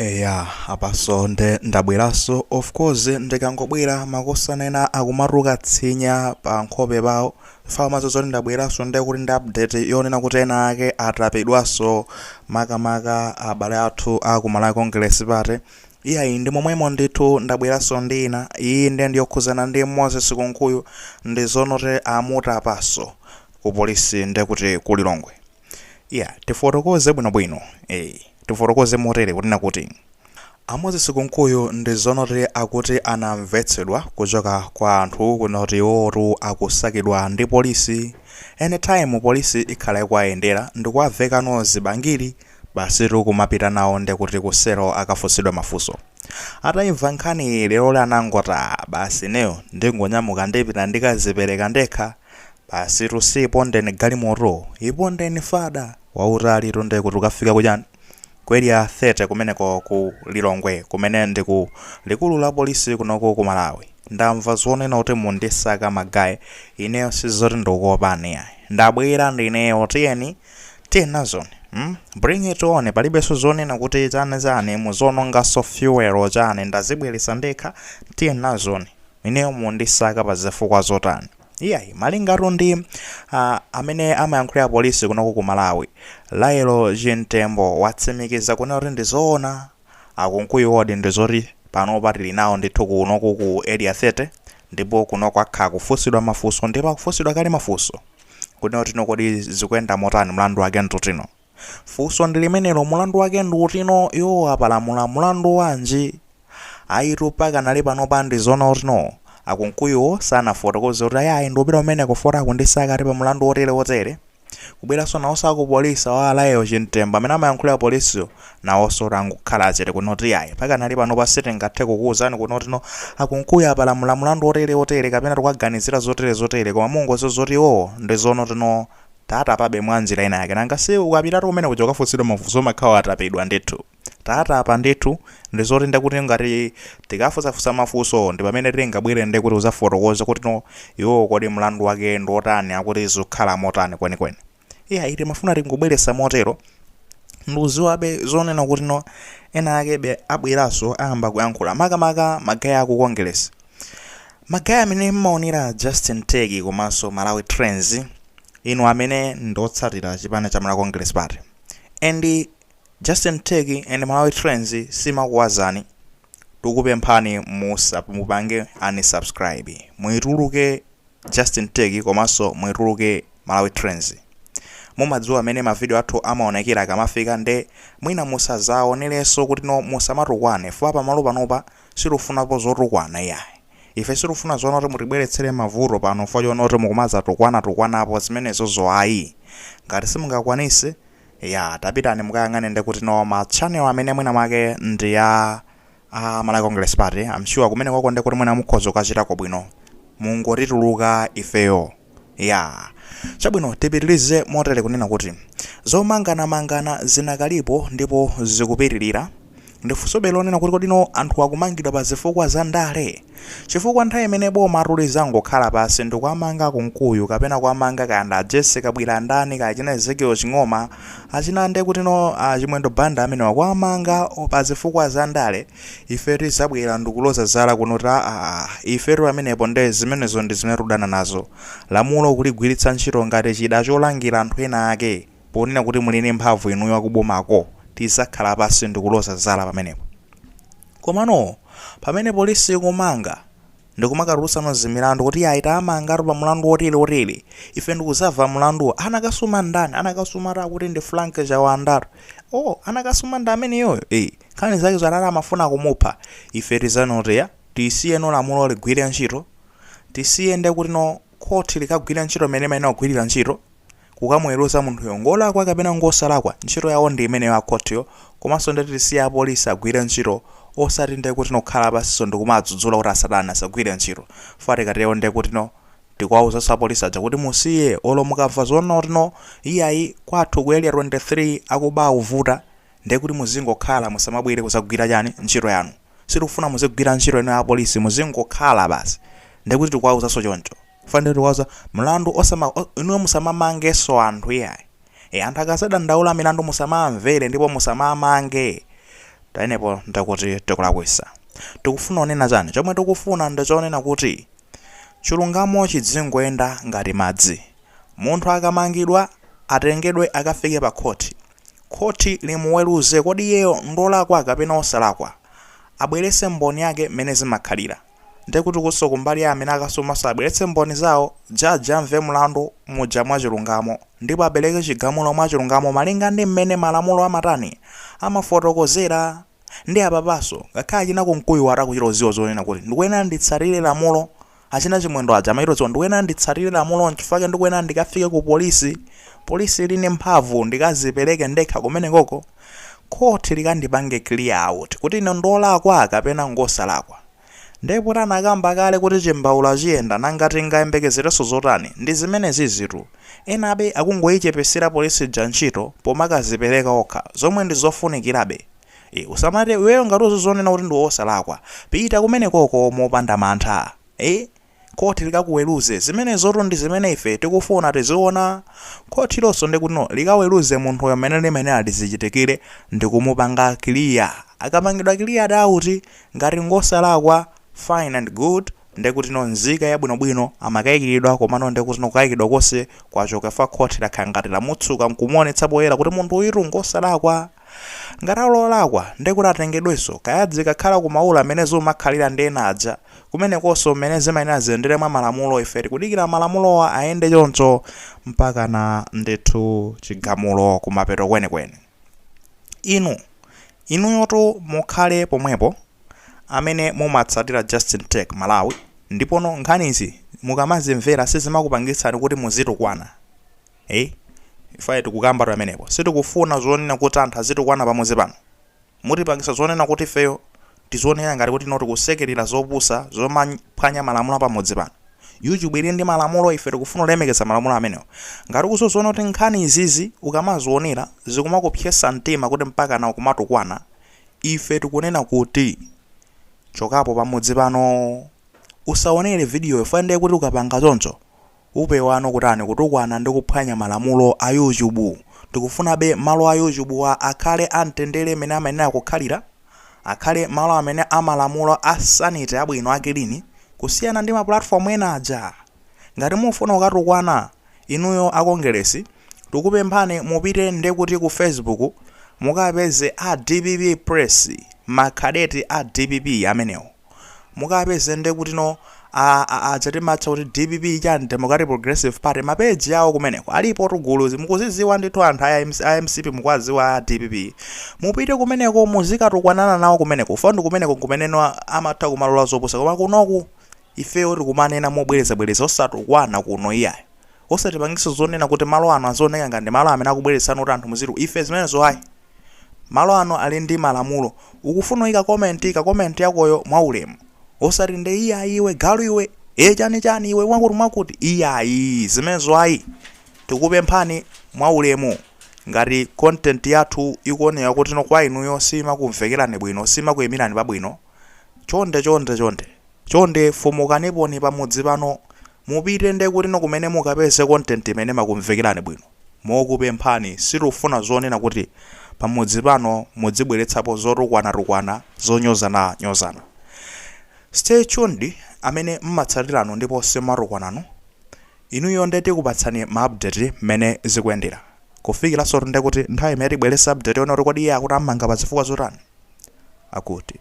Eya apaso nde ndabweraso of course ndikangobwera makosana enanu akumatuluka tsinya pa nkhope pawo chifukwa amadziwa zoti ndabweraso nde kuti ndi update yonena kuti ena ake atapidwaso makamaka abale athu a ku Malawi Congress Party iyayi ndi momwemo ndithu ndabweraso ndi ina iyi nde ndiyokhuzana ndi Moses Kunkuyu ndi zonoti amutapaso ku polisi nde kuti ku Lilongwe Ya, tifotokoze bwinobwino. Ee, tifotokoze motere kunena kuti a Moses Kunkuyu ndi zonoti akuti anamvetsedwa kuchoka kwa anthu kunoti iwowotu akusakidwa ndi polisi. Anytime polisi ikhala ikuwayendera ndikuwavekano zibangiri basitu kumapita nawo ndekuti ku selo akafunsidwa mafunso. Ataimva nkhaniyi leroli anangoti ah basi ineyo ndingonyamuka ndipita ndikazipereka ndekha. Basitu si ipondeni galimoto, ipondeni fada wautalitu nde kuti ukafika kuja ku area 30 kumeneko ku Lilongwe kumene ndi ku likulu la polisi kunoku ku Malawi. Ndamva zonena kuti mundisaka ma guy, ineyo si zoti ndikukuopani iyayi. Ndabwera ndineyo tiyeni, tiyeni nazoni mm bring it on palibenso zonena kuti chani chani muziononganso fuel chani ndazibweretsa ndekha tiyeni nazoni. Ineyo mundisaka pa zifukwa zotani? Iyayi, malingatu ndi ah, amene amayankhulira polisi kunoko ku Malawi, Lael Chimtembo watsimikiza kunena kuti ndi zoona a Kunkuyuwo ndi zoti panopa tili nawo ndithu kunoku ku Area 30 ndipo kunoko akhala akufunsidwa mafunso ndipo akufunsidwa kale mafunso kunena kuti no kodi zikuyenda motani, mlandu wake ndi uti no? Funso ndi limenelo, mulandu wake ndi uti no, iwo apalamula mulandu wanji? Ayitu pakanali panopa ndi zonoti no a Kunkuyuwo sanafotokoze kuti ayayi ndikupita kumeneko foti akundisaka ati pa mulandu wotere wotere. Kubweranso nawonso a ku polisi awo a Lael Chimtembo amene amayankhulira polisiyo nawonso angokhala chete kunena kuti iyayi pakanali panopa sitingathe kukuwuzani kunena kuti no a Kunkuyu apalamula mulandu wotere wotere kapena tikuwaganizira zotere zotere koma mungodziwa zoti iwowo ndi zonoti no Tawatapabe mwanjira ina yake. Nanga si ukapitatu kumene kuja ukafunsidwa mafunso umakhala watapidwa ndithu. Tawatapa ndithu, ndi zoti nde kuti ngati tikafunsafunsa mafunsowo ndi pamene tingabwere nde kuti uzafotokoze kuti no iwowo kodi mlandu wake ndi otani akuti zikukhala motani kwenikweni. Iyayi timafuna tingobweretsa motero ndikudziwabe zonena kuti no ena akebe abweranso ayamba kuyankhula makamaka ma guy a ku Kongeresi. ma guy amene mmaonera Justin Teki komanso Malawi Trends inu amene ndiotsatira chipani cha Malawi Congress Party and Justin Teki and Malawi Trends sitimakuuzani tikupemphani musamupange unsubscribe muituluke Justin Tech komaso muituluke Malawi Trends mumadziwa mene ma video athu amaonekera akamafika nde mwina musazaoneleso kutino musamatukwane fukwa pamalo panopa situfunapo zotukwana iyayi ife sitifuna zoona kuti mutibweletsele mavuto pano fukwa choona kuti mukumazatukwana tukwanapo zimenezo ayi ngati simungakwanise iyaa tapitani mukayang'ane nde kutino ma channel amene mwina mwake ndi ya a Malawi Congress Party I'm sure kumenekoko nde kuti mwina mukhoza kukachitako bwino. Mungotituluka ifeyo. Yeah. Chabwino tipitirize motere kunena kuti zomanganamangana zinakalipo ndipo zikupitirira. Ndi funsobe lonena kuti kodino anthu akumangidwa pa zifukwa za ndale? Chifukwa nthawi imene boma ili lizangokhala pansi ndikuwamanga Kunkuyu kapena kuwamanga kaya nda Jessy Kabwila ndani kaya achina Ezekiel Ching'oma achina ndekutino a Chimwendo Banda amenewa kuwamanga pazifukwa za ndale ife tizabwera ndikuloza zala kunena kuti aah ifetu pamenepo nde zimenezo ndizimene tikudana nazo. Lamulo kuligwiritsa ntchito ngati chida cholangira anthu ena ake. ponena kuti muli ndi mphamvu inuyo akubomako tizakhala pasi ndikuloza zala pamenepo komano pamene police ikumanga ndikumakatulutsano zimilandu kuti yayi tamangatu pa mulandu otili otili ife ndikuzamva mulanduwa anakasuma ndani anakasumatu akuti ndi frank chawandatu oh anakasuma ndi ameneyoyo eh nkhani zake zotani amafuna kumupha ife tizanena kuti tisiyeno lamulo ligwire ntchito tisiye ndekuti no khoti likagwire ntchito mene limayenera kugwirira ntchito kukamuweruza munthuyo ngolakwa kapena ngosalakwa ntchito yawo ndi imeneyo a khothiyo komanso nde tisiye a police agwire ntchito osati nde kutino kukhala pansiso ndikumaadzudzula kuti asatani asagwire ntchito chifukwa tikatero nde kutino tikuwauzanso a police aja kuti musiye olo mukamva zoona kutino iyayi kwathu ku area 23 akuba akuvuta nde kuti muzingokhala musamabwere kuzagwira chani ntchito yanu sitikufuna muzigwira ntchito inuyo a police muzingokhala basi nde kuti tikuwauzanso choncho Fande tikuwauza mlandu osama inuyo musamamangenso anthu iyayi. E, anthu akazadandaula milandu musamamvere ndipo musamamange. Pamenepo ndakuti tikulakwitsa. Tikufuna kunena chani? Chomwe tikufuna ndichonena kuti chilungamo chidzingoyenda ngati madzi. Munthu akamangidwa atengedwe akafike pa khoti. Khoti limuweruze kodi iyeyo ndolakwa kapena osalakwa. Abweretse mboni zake mmene zimakhalira. Nde kuti kuso kumbali ya amene akasumaso abweletse mboni zawo, judge amve mlandu muja mwachilungamo, ndipo apeleke chigamulo mwachilungamo malinga ndi mmene malamulo amatani, amafotokozera. Ndi apapaso, ngakhale achina Kunkuyu awo akuchita kudziwa zonena kuti ndikuyenera nditsatire lamulo, achina Chimwendo aja amachita kudziwa ndikuyenera nditsatire lamulo nchifukwa chake ndikuyenera ndikafike ku polisi, polisi ili ndi mphamvu, ndikazipeleke ndekha kumenekoko. court likandipange clear out kuti ine ndolakwa kapena ngosalakwa nde poti anakamba kale kuti chimbaula chiyenda nanga tingayembekezerenso zotani ndi zimenezizitu enabe akungoichepesera police ija ntchito pomakazipereka okha zomwe ndizofunikirabe ee usamati iweyo ngati uzizonena kuti ndiwe osalakwa pita kumenekoko mopanda mantha ee Khoti likakuweruze. Zimenezotu ndi zimene ife tikufuna tiziona. Khotilonso ndiye kuti no likaweruze munthuyo mmene limayenera lizichitikire ndi kumupanga kiliya. Akapangidwa kiliya daut ngati ngosalakwa, fine and good, ndiye kuti no nzika yabwinobwino, amakaikiridwa komano ndiye kuti no kukaikidwa konse kwachoka chifukwa khoti lakhala ngati lamutsuka n'kumuonetsa poyera kuti munthu uyutu ngosalakwa. Ngati ali olakwa, ndiye kuti atengedwenso, kaya adzikakhala ku maula mmene zimakhalira ndi ena aja, kumenekonso mmene zimayenera ziyendere mwa malamulo, ife tikudikira malamulowa ayende choncho mpakana ndithu chigamulo kumapeto kwenikweni. Inu, inuyotu mukhale pomwepo amene mumatsatira Justin Tech Malawi, ndipono nkhanizi mukamazimvera sizimakupangitsani kuti muzitukwana. Eeh ifeyo tikukambatu pamenepo sitikufuna zonena kuti anthu azitukwana pamudzi pano. Mutipangisa zonena kuti ifeyo tizionera ngati kuti no tikusekelera zopusa zomaphwanya malamulo apamudzi pano. YouTube ili ndi malamulo ife tikufuna ulemekeza malamulo amenewo. Ngati ukuzoziona kuti nkhani izizi ukamazionera zikumakupsetsa mtima kuti mpakana ukumatukwana ife tikunena kuti chokapo pamudzi pano. Usaonere video yo fukwa ndekuti ukapanga choncho Upewano kutani kutukwana ndi kuphwanya malamulo a yuchubu. Tikufunabe malo a yuchubuwa akhale a mtendere mene amayenera kukhalira. Akhale malo amene a malamulo a sanity abwino a kilini kusiyana ndi ma platform ena aja. Ngati mufuna kukatukwana inuyo a Kongeresi tikupemphani mupite nde kuti ku Fesibuku mukapeze a dpp press makadeti a dpp amenewo. mukawapeze nde kutino a a a amatcha kuti dpp chani democratic progressive party mapeji awo kumeneko alipotu guluzi mukuziziwa ndithu anthu a MC a mcp mukwaziwa a dpp mupite kumeneko muzikatukwanana nawo kumeneko funa kumeneko kumeneno a- amatha kumalola zopusa koma kunoku ifeyo tikumanena mobwerezabwereza osatukwana kuno iyayo osatipangisa zonena kuti malo ano azioneka ngati malo amene akubweretsa kuti anthu muziru ife zimenezo ayi Malo ano ali ndi malamulo. Ukufuna kuika comment, ika comment yakoyo mwaulemu. Osati nde iyayi iwe galu iwe, e chani chani iwe mwakuti mwakuti. Iyayi, zimenezo ayi. Tikupemphani mwaulemu. Ngati content yathu ikuoneka kuti no kwa inuyo simakumvekerani bwino, simakuimirani pabwino, chonde chonde chonde. Chonde fumukaniponi pa mudzi pano mupite nde kuti kumene mukapeze content imene imakumvekelani bwino. Mokupemphani sitifuna zonena kuti pa mudzi pano mudzibweletsapo zotukwana tukwana, zonyozana nyozana. Stay tuned amene mmatsatilanu ndipo simatukwananu inuyo nde tikupatsani ma update mmene zikuyendela. Kufikilansotu nde kuti nthawi imene tibwelese update yonena kuti kodi iye akuti ammanga pa zifukwa zotani? Akuti.